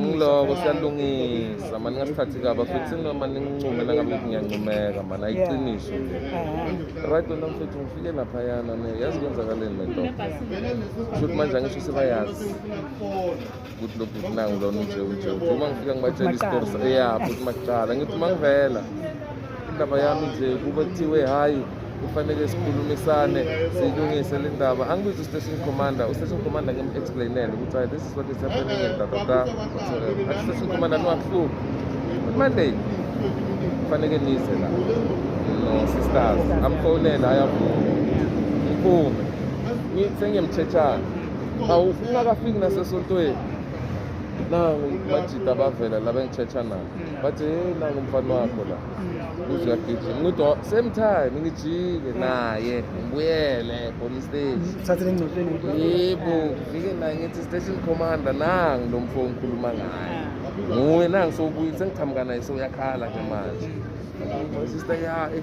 ngiloko siyalungisa mani ngasikhathi kaba futhi noma ningincume nangabe ngiyancumeka mani ayiqiniso right wena mfethu ngifike laphayana ne yazi kwenzakaleni lento shuthi manje angisho sebayazi ukuthi lokhu kunangu lona unje unje uma ngifika ngibatshela isitori ya futhi makuqala ngithi uma ngivela indaba yami nje kube kuthiwe hhayi kufanele sikhulumisane siyilungise le ndaba angibizi u-station commander u-station commander ngim-explainele ukuthi hayi this is what is happening and da da da athi station commander niwakuhluphi monday kufanele nize la no sisters amfonela ayavuma ngiphume sengiyemthetshana awu ungakafiki nasesontweni nangu majida abavela la bengithetha nabo bathi hey nangu umfana wakho la uze uyagijima ngithi "Oh, same time ngijike naye ngibuyele khona istage Thathe lengcotsheni ngempela. yebo ngifike naye ngithi station commander nangu lo mfo ngikhuluma ngaye nguye nangu sowubuyile sengiqhamuka naye sewuyakhala ke manje sister ya eh,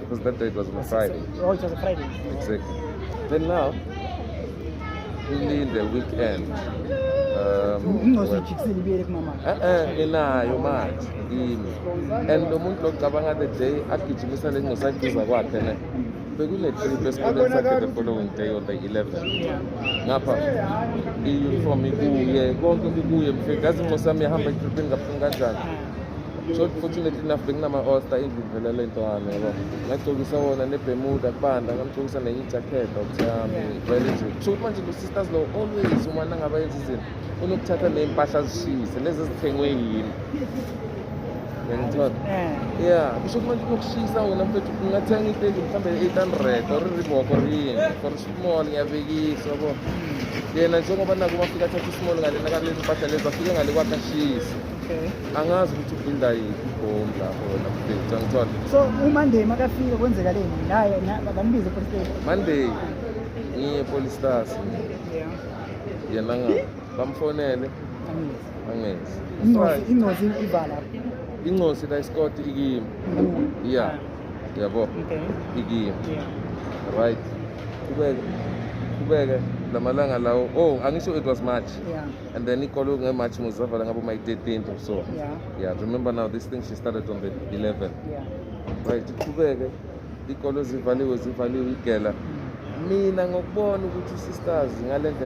Because that day it was on a Friday. Oh, it was a Friday. Exactly. Then now, only in the weekend. ingozojikiseliibuyele kumama e-e inayo manje imi and lo muntu locabanga the day agijimisa le ngosaduza kwakhe ne bekunetrip esikoleni sakhe the following day on the 11 ngapha i-uniform ikuye konke kukuye mfethu yazi inqosi yami yahamba etripini kabuhlungu kanjani fortunately enough benginama-osta endlini vele le nto yami yabo ngagcokisa wona nebemuda kubanda ngamgcokisa nenye ijakhethi okuthi yami vele nje kusho ukuthi manje lo-sisters lo always uma nangabe yenza izinto unokuthatha ney'mpahla azishise lezi ezithengwe yini ngiyangithola eh. ya kusho ukuthi manje unokushisa wona mfethu ungathenga iteki mhlawumbe eight hundred or iribok or yini for small ngiyabekisa yabo hmm. yena njengoba naku bafika athatha ismall ngalena kalezi mpahla lezi afike ngale kwakhe ashise Okay. Angazi ukuthi ulinda yiphi ibhomu lapho wena mfethu angithole. So uMonday makafika kwenzeka leni? Naye bambize police station. Monday ngiye police station. Yeah. Yena nga bamfonele. Angezi. Angezi. Ingozi ingozi ivala. Ingozi la isikoti ikimi. Mm. Yeah. Yabo. Okay. Ikimi. Yeah. Right. Kubeke. Kubeke lamalanga lawo. Oh, angisho it was March. Yeah. And then ikolo nge March muzavala ngabo my 13th or so. Yeah. Yeah, remember now this thing she started on the 11. Yeah. Right, iqhubeke ikolo zivaliwe zivaliwe igela. Mm. Mina ngokubona ukuthi sisters ngalendlela